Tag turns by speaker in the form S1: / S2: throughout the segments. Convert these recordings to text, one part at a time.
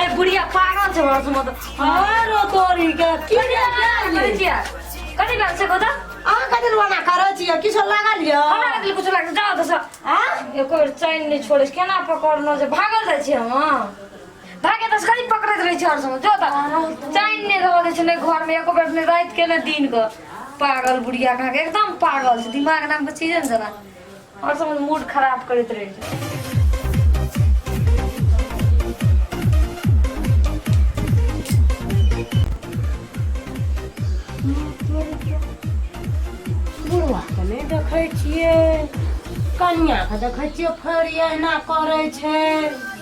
S1: ए बुढ़िया पागल छै घर से मत अरे तोरी के की करै छियै कथी बात छै गोदा अहाँ कथी रोना करै छियै किछो लागल यऽ हमरा लगले कुछ लागल जाओ दस हाँ एको बेर चैन नहि छोड़े छै केना पकड़नो जे भागल जाइ छियै हम भागे दस कथी पकड़ैत रहै छै हर समय जो त चैन नहि रहऽ दै छै नहि घर में एको बेर नहि राति के नहि दिन के पागल बुढ़िया कहाँ के एकदम पागल छै दिमाग नाम के चीजे ने जना और सब मूड खराब करते रहे नहीं देखे कन्या के देखे फरिया एना करे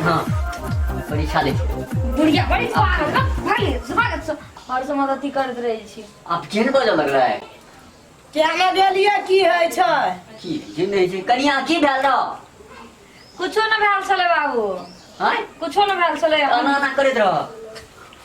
S1: हाँ परीक्षा लै छी बुढ़िया बड़ी पागल का भाई स्वागत से और से मदति करत रहे छी आप केहन बाजऽ लगलै है क्या न गेलिए की है छै की जे नहि छै कनिया की भेल रह कुछो न भेल छले बाबू आँय कुछो न भेल छले एना एना करैत रह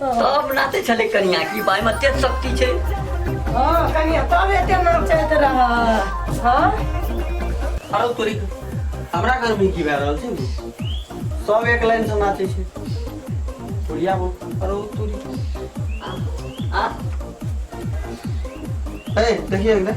S1: सब नाते छले कनिया की बाय में तेज शक्ति छे हां कनिया तब एते नाम चलत रह हां अरे तोरी हमरा घर में की भए रहल छै सब एक लाइन से नाचे छै बुढ़िया बोल अरे तोरी आ ए देखिए अंदर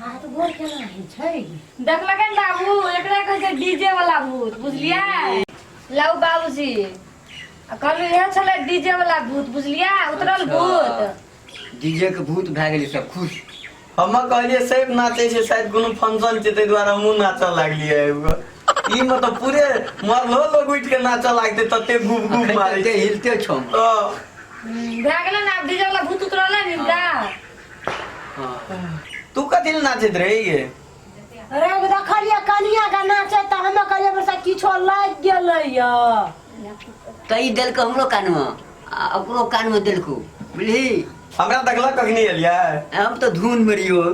S1: हाथ गोड़ केना होइ छै देखलकै ने बाबू एकरा कहै छै डीजे वाला भूत बुझलियै लाउ बाबूजी आ कहलू इहे छलै डीजे वाला भूत बुझलियै उतरल भूत डीजे के भूत भए गेलै सब खुश हमे कहलियै सैफ नाचै छै शायद कोनो फंक्शन छै ताहि दुआरे हमहूँ नाचऽ लागलियै आबि कऽ ई मतलब पूरे मरलो लोग उठि कऽ नाचऽ लागतै तते घूम घूम अखन मारै तते छै हिलते छौ हम। हँ, हम्म, भए गेलै ने आब डीजे वाला भूत उतरलै ने हिनका हँ। तू कथी लए नाचैत रही गे रवि देखलियै कनिया के नाचे तऽ हमे कहलियै बरसा किछो लागि गेलै या कही देलकै हमरो कानमे आ ओकरो कानमे देलकौ बुझली हमरा देखलक कखनी एलियै हम तऽ धुनमे रहियौ